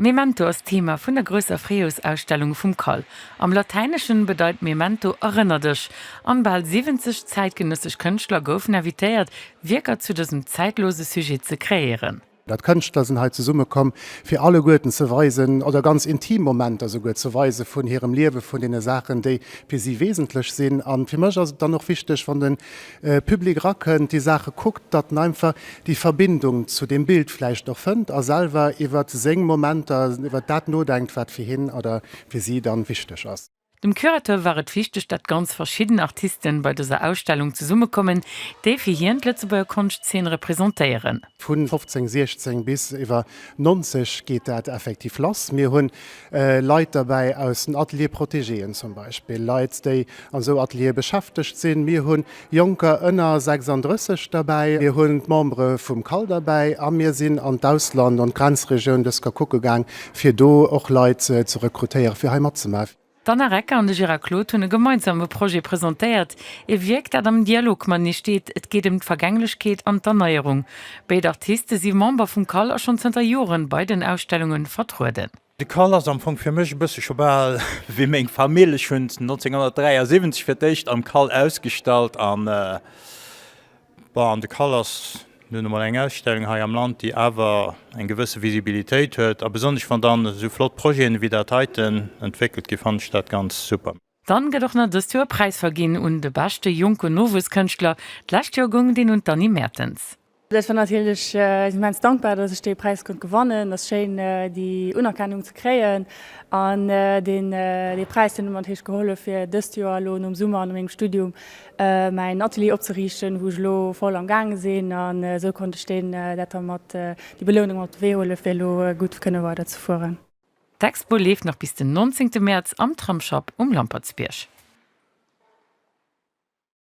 Memento ass d'Thema vun der grousser Fréijoersausstellung vum cal. Am Latäineschen bedeit Memento Erënner dech! an bal 70 zäitgenëssesch Kënschtler goufen invitéiert, Wierker zu dësem zäitlose Sujet ze kreéieren. Kënschtler sinn hei zesummekomm, fir alleguerten ze weisen oder ganz intim Momenter souguer ze weise vun hirem Liewe, vun deene Saachen, déi fir si wesentlech sinn. A fir mech ass et dann och wichteg, wann de Public erakënnt, déi Saache kuckt, datt en einfach déi Verbindung zu deem Bild vläicht och fënnt a selwer iwwer seng Momenter, iwwer dat nodenkt, wat fir hien oder fir si dann wichteg ass. Dem Curateur war et wichteg, datt ganz verschidden Artisten bei dëser Ausstellung zesummekommen, déi fir hien d'Lëtzebuerger Konschtzeen representéieren. Vun 15, 16 bis iwwer 90 geet dat effektiv lass. Mir hunn Leit derbäi aus den Ateliers protégéen zum Beispill, Leit, déi an esou Ateliere beschäftegt sinn. Mir hu Jonker ënner 36 derbäi, mir hunn d'Membere vum CAL derbäi a mir sinn an d'Ausland, an d'Grenzregioun dës Ker kucke gaang, fir do och Leit ze rekrutéieren, fir hei matzemaachen. D'Anna Recker an de Gérard Claude hunn e gemeinsame Projet presentéiert, E Wierk, dat am Dialog mat nees steet, et geet ëm d'Vergänglechkeet an d'Erneierung. Béid Artiste si Member vum CAL a schonn zënter Joren bei den Ausstellunge vertrueden. De CAL ass am Fong fir mech e bësse scho bal wéi meng Famill. Ech hunn 1973 fir d'éischt am CAL ausgestallt an, bon, de CAL ass nun emol eng Ausstellung hei am Land, déi awer eng gewësse Visibilitéit huet a besonnesch wann dann esou flott Projeten ewéi dat heiten entwéckelt ginn, fannen ech dat ganz super. Dann gëtt och nach dëst Joer e Präis verginn un de beschte jonke Nowuesskënschtler. D'lescht Joer goung deen un d'Annie Mertens. Ech war natierlech immens dankbar, dass ech dee Präis konnt gewannen. Ass schéin déi Unerkennung ze kréien an deen dee Präis deen huet mer natierlech gehollef fir dëst Joer elo nom Summer, no mengem Studium mäin Atelier opzeriichten, wou ech elo voll am gaange sinn an esou konnt ech deen dat da mat déi Belounung mat op de Wee huelen fir elo gutt kënne weider ze fueren. D'Expo leeft nach bis den 19 Mäerz am Tramsschapp um Lampertsbierg.